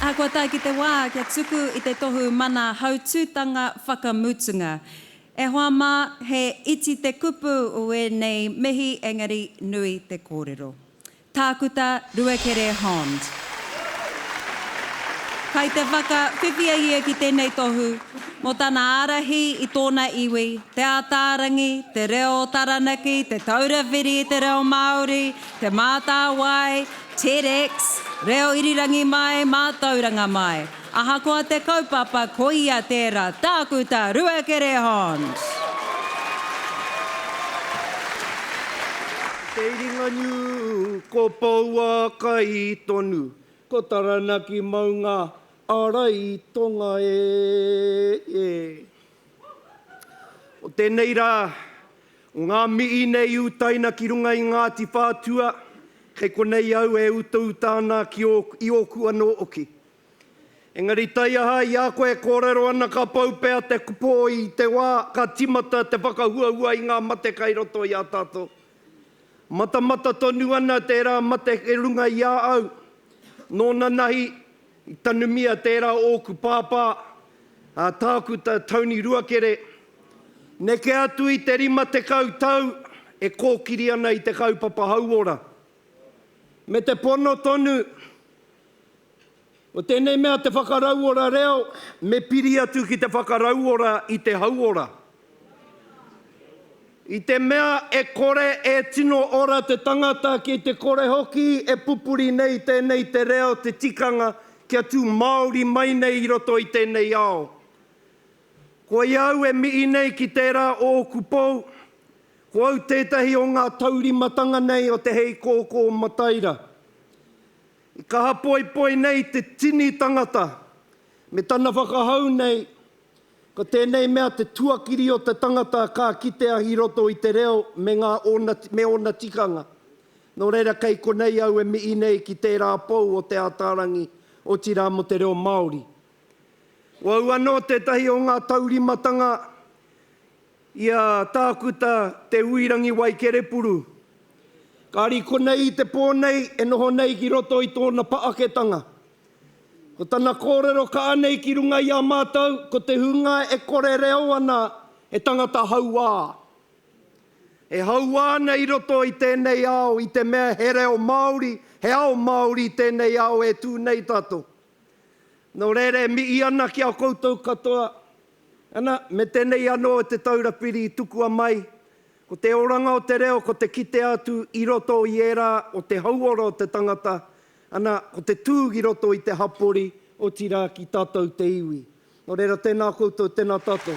Ahakoa tae ki te wā kia tuku i te tohu mana hautūtanga whakamutunga, e hoa mā, he iti te kupu o ēnei mihi engari nui te kōrero. Tākuta Ruakere Hond. Kai te whakawhiwhia ia ki tēnei tohu mō tana ārahi i tōna iwi, Te Ātaarangi, te reo o Taranaki, Te Taura Whiri i te Reo Māori, Te Mātāwai, TEDx, Reo Irirangi Mai, Mātauranga Mai. Ahakoa te kaupapa, koia tērā, Tākuta Ruakere Hons! Ko Te Iringanū, ko Pouākai tonu, ko Taranaki maunga ārai tonga e. O tēnei rā, o ngā mihi nei i utaina ki runga i Ngāti Whātua, kei konei au e utauta ana ki ō, i ōku anō oki. Engari taiaha i a koe e kōrero ana ka pau pea te kupo i te wā ka timata te whakahuahua i ngā mate kai roto i a tātou. Matamata tonu ana tērā mate ki runga i a au. Nōna nahi, I tanumia tērā ōku pāpā, a Tākuta Tony Ruakere, neke atu i te 50 tau e kōkiri ana i te kaupapa hauora. Me te pono tonu, ko tēnei mea te whakarauora reo, me piri atu ki te whakarauora i te hauora. I te mea e kore e tino ora te tangata ki te kore hoki e pupuri nei tēnei te reo te tikanga kia tū Māori mai nei i roto i tēnei ao. Koia au e mihi nei ki tērā o ōku pou, ko au tētahi o ngā taurimatanga nei o te Hei Kōkō Mataira. I kaha poipoi nei te tini tangata me tana whakahau nei, Ko tēnei mea te tuakiri o te tangata ka kitea i roto i te reo me ngā ōna, me ōna tikanga. Nō reira kei konei au e mihi nei ki tērā pou o Te Ātaarangi, otirā mō te reo Māori. Ko au anō tētahi o ngā taurimatanga i a Tākuta Te Huirangi Waikerepuru. Kāri konei i te pō nei e noho nei ki roto i tōna paaketanga, Ko tana kōrero ka anei ki runga i a mātou, ko te hunga e kore reo ana he tangata hauā. E hauā ana i roto i tēnei ao i te mea he reo Māori, he ao Māori i tēnei ao e tū nei tātou. Nō reira e mihi ana ki a koutou katoa, ana, me tēnei anō o Te Taura Whiri i tukua mai, ko te oranga o te reo ko te kitea atu i roto i ērā o te hauora o te tangata, Ana, ko te tūg i roto i te hapori, otirā ki tātou te iwi. Nō reira, tēnā koutou, tēnā tātou.